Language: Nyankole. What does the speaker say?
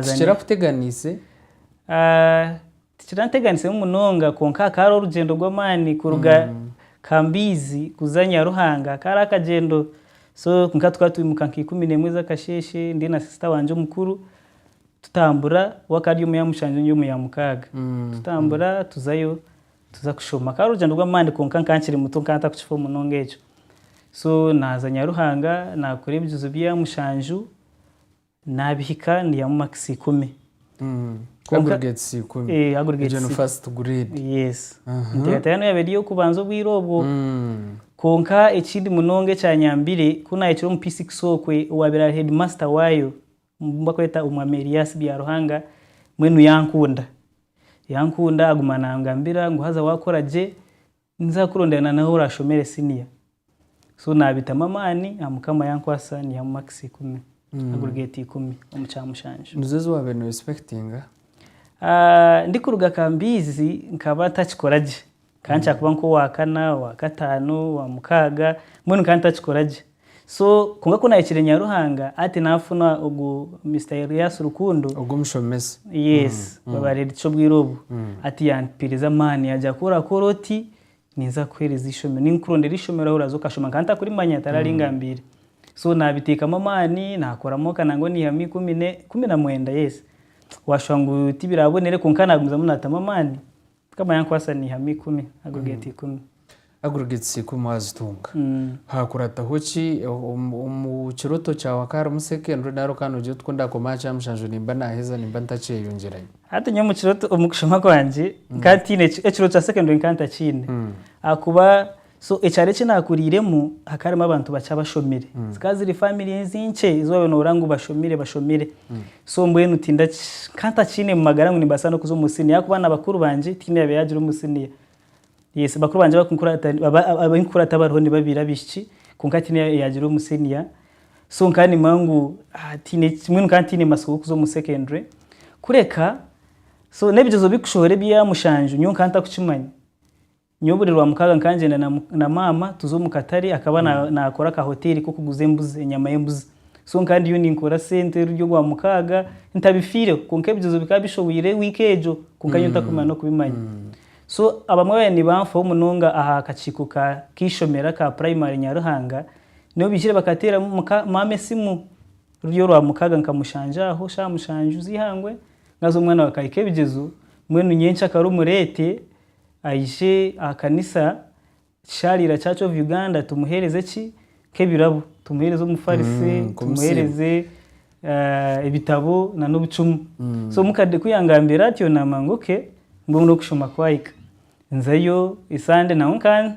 Tikira kuteganiise? Tikira nteganiise munonga kwonka hakaba hariho orugyendo rw'amaani kuruga Kambiizi kuza Nyaruhanga. Kari akagyendo so kwonka tukaba twimuka nka ikumi n'emwe ez'akasheeshe ndi na sister wangye omukuru tutambura. We akaba ari omu ya mushanju ndi omu ya mukaaga. Tutambura tuzayo tuza kushoma. Akaba ari orugyendo rw'amaani kwonka nkaba nkiri muto nkaba ntarikukifa munonga ekyo. So naaza Nyaruhanga naakora ebijuzo bya mushanju. Naabihika niihamu makisi ikumi. Aggregates ikumi. Ee, aggregates. Egyo ni first grade. Yes. Enteekateeka yaaba eri ey'okubanza obwire obwo. Kwonka ekindi munonga ekyanyambire, ku naahikire omu P6 okwe, owaabaire ari heedimasita waayo, omu bakweta Omwami Elias Byaruhanga, mbwenu yankunda. Yankunda aguma naangambira ngu haza waakora gye, Ninza kukurondera na nahu orashomere senior so nabitamu amaani aha mukama yankwasa nihamu makisi ikumi agurgate ikumi omu kya mushanju. Nizo ezi wabire no respectinga? Ndi kuruga kambiizi nkaba ntakikora gye, nkaba nikyakuba nka owa kana, owa kataano, owa mukaaga mbwenu nkaba ntakikora gye. So kwonka ku nahikire Nyaruhanga ati nafuna ogu Mister Elias Rukundo. Ogu omushomesa. Yes, baba Red Cho obwire obu. Ati yampiriza amaani yagya ku orakora oti ninza kukuhereza ishomero. Ninga kukurondera ishomero ahu oraza okashoma nkaba ntakurimanya tari ari angambiire. So nabitekamu amaani nakoramu oka nangwa nihamu ikumi ne ikumi na mwenda yes. Washuha ngu tibirabonire kwonka nagumizamu natamu amaani. Mukama yankwasa naihamu ikumi, aggregate ikumi. Aggregates ikumi wazitunga. Haakurataho ki? Omu kirooto kyawe hakaba harimu secondary nari okaba noogira oti ku ndaakomaho aha kyamushanju nimba naaheza nimba ntakyeyongyerayo? Hati nyowe omu kirooto, omu kushoma kwangye, nkaba ntiine, ekirooto kya secondary nkaba ntakiine ahakuba So ekyaro eki naakuriiremu hakaba harimu abantu bakye abashomire. Zikaba ziri family ezi nkye ezi waabaire noohurira ngu bashomire bashomire. So mbwenu tindaki nkaba ntakiine mu magara ngu nimbaasa n'okuza omu siniya ahakuba na bakuru bangye tihaine oyaabaire yaagira omu siniya. Yes bakuru bangye abakunkura abu nkikura tibariho ni babiri abaishiki kwonka tihaine oyaagira omu siniya. So nkaba nimanya ngu tihaine mbwenu nkaba ntiine matsiko g'okuza omu secondary kureka so n'ebigyezo bikushohora ebya mushanju nyowe nkaba ntarikukimanya. Nyowe buri Rwamukaaga nkangyenda na maama tuza omu katare akaba naakora ka hoteeri k'okuguza embuzi, enyama y'embuzi. So nkaba ndiyo ninkora sente ruri orwamukaaga ntabifiireho kwonka ebigyezo bikaba bishobwire wiiki egyo kwonka nyowe ntakumanya n'okubimanya. So abamwe baabaire nibanfaho munonga aha kakiiko k'eishomero aka puraimari Nyaruhanga, nibo baijire bakateera muka maama esimu ruri orwamukaaga nkamushangya aho shaaha mushanju z'eihangwe, naaza omwana waakahika ebigyezo, mbwenu nyenkya kare omu reete, Aije aha kanisa Kisharira Church of Uganda tumuhereze ki? Nk'ebirabo. Tumuhereze omufarisi, tumuhereze ebitabo na n'obucumu. So mukade ku yangambire atyo namanya ngu okay, mbwenu n'okushoma kwahika. Nzayo Esande naho nka